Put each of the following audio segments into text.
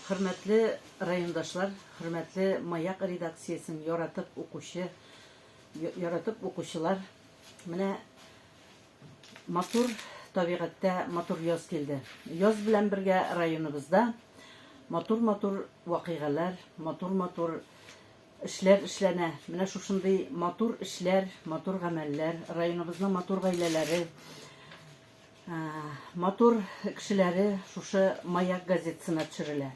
Хөрмәтле райондашлар, хөрмәтле Маяк редакциясен яратып укучы, яратып укучылар, менә матур табигатьтә матур яз килде. Яз белән бергә районыбызда матур-матур вакыйгалар, матур-матур эшләр эшләнә. Менә шушындый матур эшләр, матур гамәлләр, районыбызның матур гаиләләре, Матур кешеләре шушы Маяк газетасына төшерелә.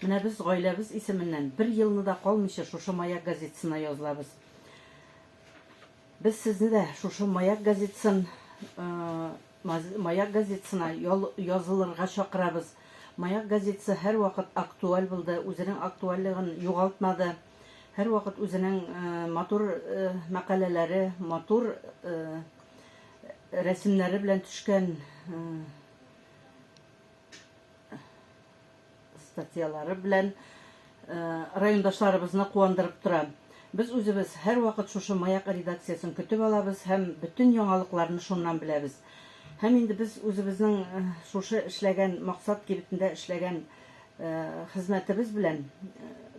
Менә без гаиләбез исеменнән бер елны да калмыйча шушы Маяк газетасына язылабыз. Без сезне дә шушы Маяк газетасын Маяк газетасына язылырга чакырабыз. Маяк газетасы һәрвакыт актуаль булды, үзенең актуальлыгын югалтмады. Һәрвакыт үзенең матур мәкаләләре, матур Рәсемнәре белән төшкән статьялары белән райондашларыбызны куандырып тора. Без үзебез һәрвакыт шушы Маяк редакциясен көтеп алабыз һәм бөтен яңалыкларны шуннан беләбез. Һәм инде без үзебезнең шушы эшләгән Максат кибетендә эшләгән хезмәтебез белән,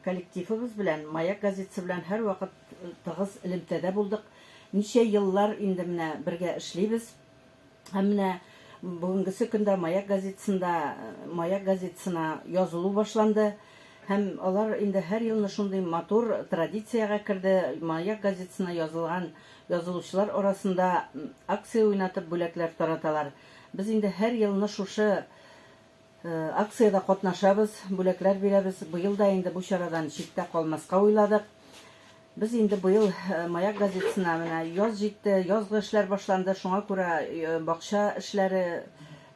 коллективыбыз белән Маяк газетасы белән һәрвакыт Тыгыз элемтәдә булдык. Ничә еллар инде менә бергә эшлибез. Һәм менә бүгенгесе көндә Маяк газетасында Маяк газетасына язылу башланды. Һәм алар инде һәр елны шундый матур традициягә керде, Маяк газетасына язылган язылучылар арасында акция уйнатып бүләкләр тараталар. Без инде һәр елны шушы Акциядә катнашабыз, бүләкләр бирәбез. Быел да инде бу чарадан читтә калмаска уйладык. Без инде быел Маяк газетасына менә яз җитте, язгы эшләр башланды, шуңа күрә бакча эшләре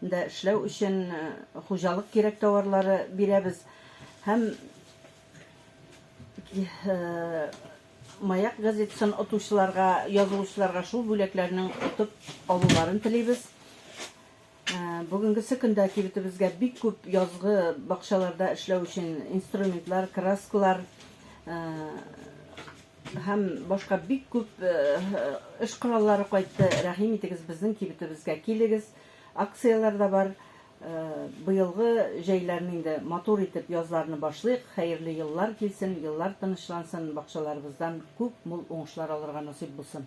дә эшләү өчен хуҗалык кирәк товарлары бирәбез. Һәм Маяк газетасын отучыларга, язылучыларга шул бүләкләрнең отып алуларын телибез. Бүгенгесе көндә кибетебезгә бик күп язгы бакчаларда эшләү өчен инструментлар, краскалар һәм башка бик күп эш кораллары кайтты. Рәхим итегез, безнең кибетебезгә килегез. Акцияләр дә бар. Быелгы җәйләрне инде матур итеп язларны башлыйк. Хәерле еллар килсен, еллар тынычлансын, бакчаларыбыздан күп мул уңышлар алырга насыйп булсын.